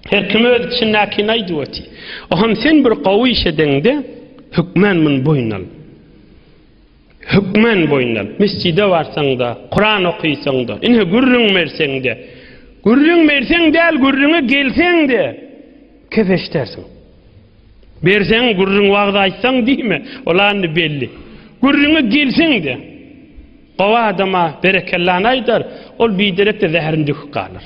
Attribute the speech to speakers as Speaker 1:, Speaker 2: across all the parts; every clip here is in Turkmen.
Speaker 1: Her kim öz içindäkini aýdyp otyr. Oham sen bir gowy iş edeňde, hökmän muny boýun al. Hökmän boýun al. Mesjide barsaň-da, Kuran okysaň-da, ine gürrüň berseň-de, gürrüň berseň däl, gürrüňe gelseň-de, kepeşdersiň. Berseň gürrüň wagt aýtsaň diýme, ol andi belli. Gürrüňe gelseň-de, gowy adama berekellany aýdar, ol biderekde zäherin döküp galar.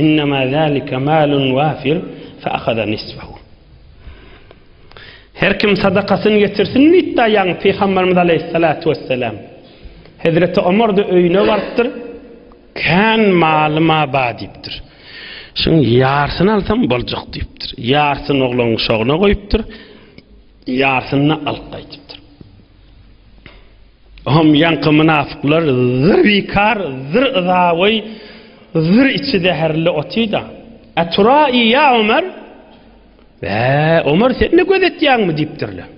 Speaker 1: Innema zalika malun wafir fa'khada nisfahu. Her kim sadakasyny getirsin diýdi ýaňy Pygamberimiz aleyhissalatu vesselam. Hezreti Ömer de öýüne barypdyr. Kan malyma ba diýipdir. Şun ýarsyny alsam boljak diýipdir. Ýarsyny oglan şogna goýupdyr. Ýarsyny alyp gaýdypdyr. Hom ýaňky mynafyklar zyr bikar, zyr yzaboý, zyr içi zäherli otyda. A tura i ýa Omar? Bä, Omar sen-de göz etýäňmi diýipdirler.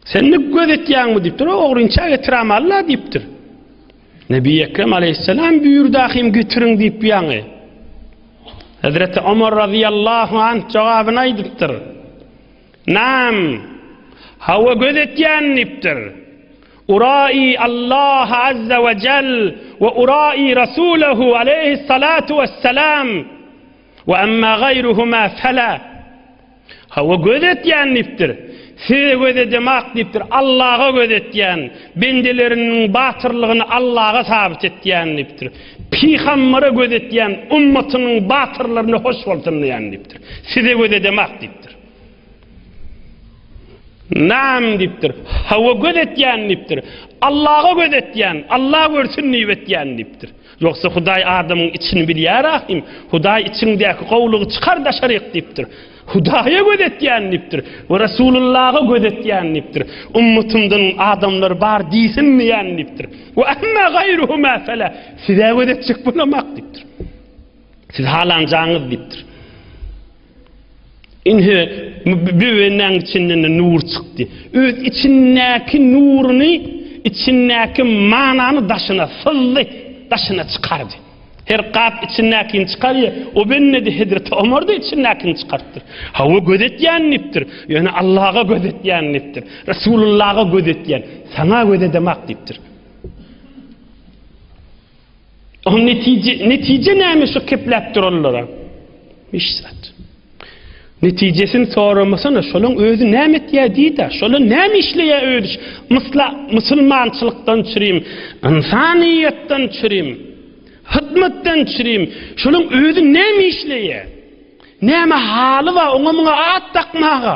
Speaker 1: Sen-de göz etýäňmi diýipdir, o ogrynça getiräm alla diýipdir. Nebi Ekrem aleyhisselam büyürdi ahim getirin deyip yani. Hazreti Ömer radıyallahu anh cevabını aydıptır. Nam, hawa göz etýän diýipdir. Uraý Allaha azza we jell we uraý Rasulahu aleýhi salatu wessalam we amma gaýruhuma fela. Hawa göz etýän diýipdir. Size göz edemak diýipdir. Allaha göz etýän, bendeleriniň batyrlygyny Allaha sabyt etýän diýipdir. Pygambere göz etýän, ummatynyň batyrlaryny hoş bolsun diýen diýipdir. Size göz edemak diýipdir. Nam dipdir. Hawa göz etýän dipdir. Allaha göz etýän, Allah görsün diýip etýän dipdir. Ýogsa Hudaý adamyň içini bilýär ahim. Hudaý içiňdäki gowlygy çykar daşaryk dipdir. Hudaýa göz etýän dipdir. We Rasulullaha göz etýän dipdir. Ummatymdan adamlar bar diýsin diýen dipdir. We amma gaýruhu ma fala. Size göz etjek bolamak dipdir. Siz halanjaňyz dipdir. Indi böwenäň içinden nur çykdy. Öz içindäki nuruny, içindäki manany daşyna syzdy, daşyna çykardy. Her gap içindäkini çykarýar. O bennedi Hezreti Omar da içindäkini çykartdyr. Hawa göz etýän diýipdir. Ýöne Allaha göz etýän diýipdir. Resulullaha göz etýän. Saňa göz edemok diýipdir. Netije, netije näme şu kepläp duranlara? Hiç zat. Netijesini soramasana, şolan özi näme etýär diýdi, şolan näme işleýär özi? Mysla musulmançylykdan çyrim, ynsanyýetden çyrim, hyzmatdan çyrim. Şolan özi näme işleýär? Näme haly bar, oňa muňa at dakmaga?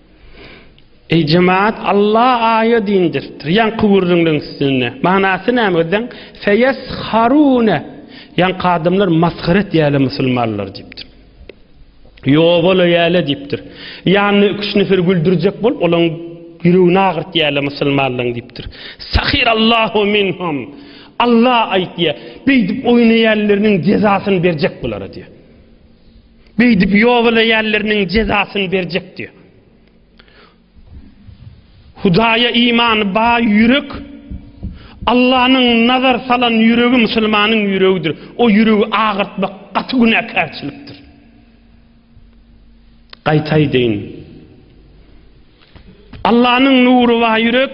Speaker 1: Eý jemaat, Alla aýa dindiripdir. Ýaňky gürrüňleň üstünde. Manasy näme özdeň? Feyesharune. Ýaňky adamlar masgara etýärler musulmanlary diýipdir. Ýobala ýäle diýipdir. Ýanyna iki-üç nefer güldürjek bolup, olaň ýüregini agyrtýarlar musulmanlaryň diýipdir. Sahirallahu minhum. Alla aýtýar, beýdip oýnaýanlarynyň jezasyny berjek bulara diýýär. Beýdip ýobalaýanlarynyň jezasyny berjek diýýär. Hudaýa imany baý ýürek Allanyň nazar salan ýüregi musulmanyň ýüregidir. O ýüregi agyrtmak gaty günäkärçilikdir. Gaýtaý deýin. Allanyň nury baý ýürek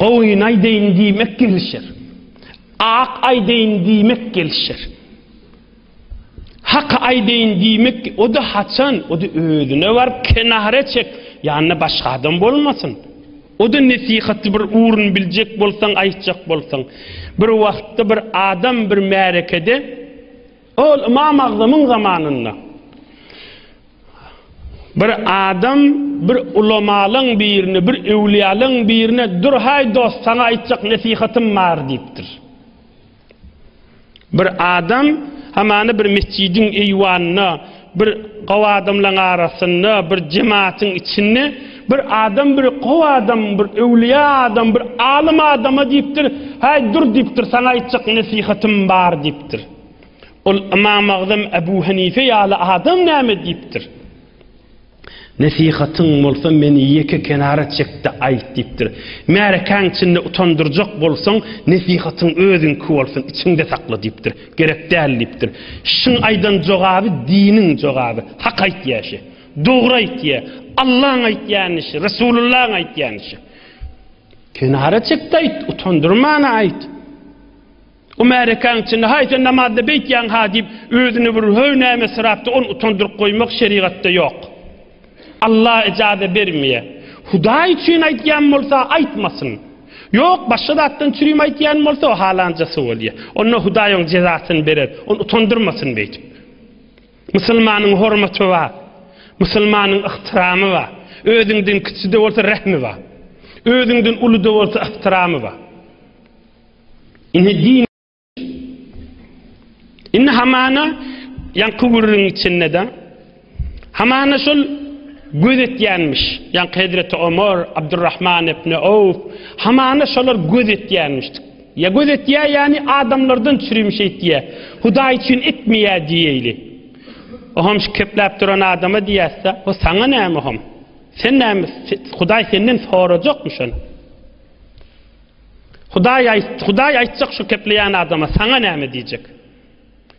Speaker 1: Goýun aýdaýyn diýmek gelişer. Ak aýdaýyn diýmek gelişer. Hak aýdaýyn diýmek, o da haçan, o da özüne baryp kenara çek, ýanynda başga adam bolmasyn. O da nesihaty bir urun biljek bolsaň, aýtjak bolsaň. Bir wagtda bir adam bir märekede Ol Ymam Agzamyň zamanynda bir adam bir ulamalyň birine, bir öwliýalyň birine durhaý dost saňa aýtjak nesihatym bar diýipdir. Bir adam hamany bir mesjidiň eýwanyna Bir gowy adamlaň arasynda, bir jematyň içinde bir adam bir gowy adam, bir öwlüýä adam, bir alym adama diýipdir, Häý, dur diýipdir, saňa aýtjak nesihatym bar diýipdir. Ol Ymam Agzam Abu Hanife ýaly adam näme diýipdir. Nesihatyň bolsa meni ýeke kenara çekde aýt diýipdir. Märekäň içinde utandyrjak bolsaň, nesihatyň özüňki bolsun, içiňde sakla diýipdir. Gerek däl diýipdir. Şiň aýdan jogaby diniň jogaby. Hak aýtýa şi. Dogry aýtýa. Allaň aýtýany şi, Resulullaň aýtýany şi. Kenara çek-de aýt, utandyrman aýt. O märekaň içinde haý sen namazda beýtýäň ha diýip özüni bir höý näme syrapdy, ony utandyryp goýmak şerigatda ýok. Alla ejaze bermeye. Hudaý üçin aýtýan bolsa aýtmasyn. Ýok başga zatdan çürim aýtýan bolsa o halanja su bolýa. Onda Hudaý oň jezasyny berer. Ony utandyrmasyn beýtip. Musulmanyň hormaty bar. Musulmanyň yhtyramy bar. Özüňden kiçide bolsa rehmi bar. Özüňden uluda bolsa yhtyramy bar. Indi din Indi hamana ýaňky gürrüň içinde de hamana şol göz etýänmiş. Ýaňky Hezreti Omar, Abdurrahman ibn Awf hamana şolar göz etýänmiş. Ýa göz etýä, ýani adamlardan çürim şeýtýä. Hudaý üçin etmeýä diýeli. Oham şu kepläp duran adama diýäse, o saňa näme oham? Sen näme? Hudaý senden sorajak mı şun? Hudaý aýt, Hudaý aýtjak şu kepleýän adama, saňa näme diýjek?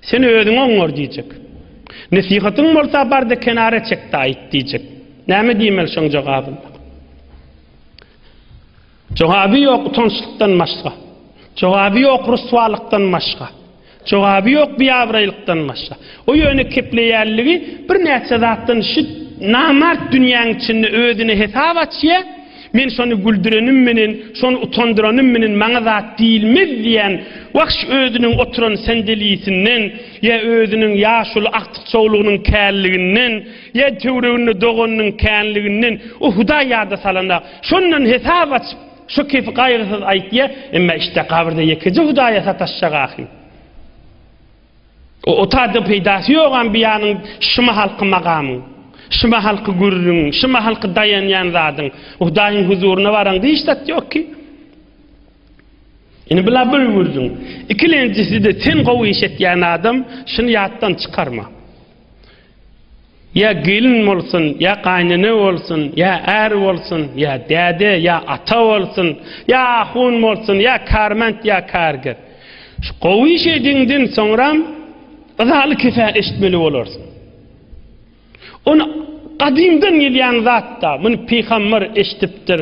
Speaker 1: Sen özüňi oňar diýjek. Nesihatyň bolsa barda kenara çekde aýt diýjek. Näme diýmeli şoň jogabyny? Jogaby ýok utançlykdan başga. Jogaby ýok ryswalykdan başga. Jogaby ýok biabraýlykdan başga. O ýöne kepleýänligi birnäçe zatdan şu namart dünýäň içinde özüne hesap açýa, men şony güldürenim menen, şony utandyranym menen maňa zat diýilmez diýen wahş özüniň oturan sendelisinden ýa özüniň ýaşuly agtykçawlygynyň känliginden ýa töwreginde doganynyň känliginden o hudaý ýada salana şondan hesap açyp Şu kefi gaýgysyz aýtýa, emma işte gabyrda ýekeje Hudaýa sataşjak ahym. O otadan peýdasy ýogam biýanyň şyma halky magamyň, şyma halky gürrüň, şyma halky daýanýan zadyň. Hudaýyň huzuryna baraňda hiç zat ýok ki. Indi bila bir gürrüň. Ikilenjisi-de sen gowy iş etýän adam, şuny ýatdan çykarma. Ýa gelin bolsun, ýa gaýnene bolsun, ýa är bolsun, ýa däde, ýa ata bolsun, ýa ahun bolsun, ýa kärment, ýa kärger. Şu gowy iş ediňden soňram yzaly kese eşitmeli bolarsyň. Ony gadymdan gelýän zat-da, muny pygamber eşitipdir.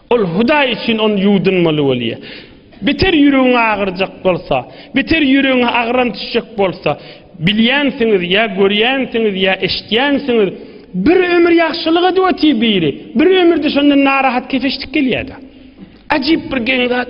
Speaker 1: Ol Hudaý üçin ony ýuwdunmaly bolýar. Beter ýüregiňe agyrjak bolsa, beter ýüregiňe agram düşjek bolsa, bilýänsiňiz ýa görýänsiňiz ýa eşitýänsiňiz, bir ömür ýagşylyk edip otyr biri, bir ömürde şondan narahat keseşdik gelýär-de. Ajyp bir geň zat.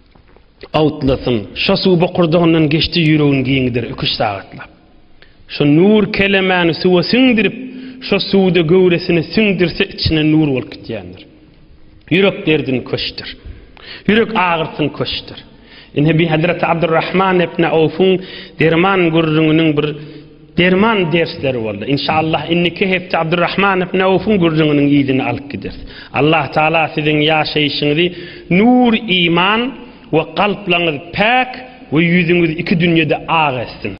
Speaker 1: Awtlasyň şo suw bokurdagyndan geçdi ýüregin giňidir iki-üç sagatlap. Şo nur kelemäni suwa siňdirip, şo suwda göwresine siňdirse içine nur bolup gitýändir. Ýürek derdini köşdür. Ýürek agyrsyny köşdür. Ine bi Hazreti Abdurrahman ibn Awfuň derman gürrüňiniň bir Derman dersleri boldy. Inşallah inniki hepde Abdurrahman ibn Awfyň gürrüňiniň yzyny alyp gideris. Allah Taala siziň ýaşaýşyňyzy nur iman we kalplaňyz päk we ýüzüňiz iki dünýede ak etsin.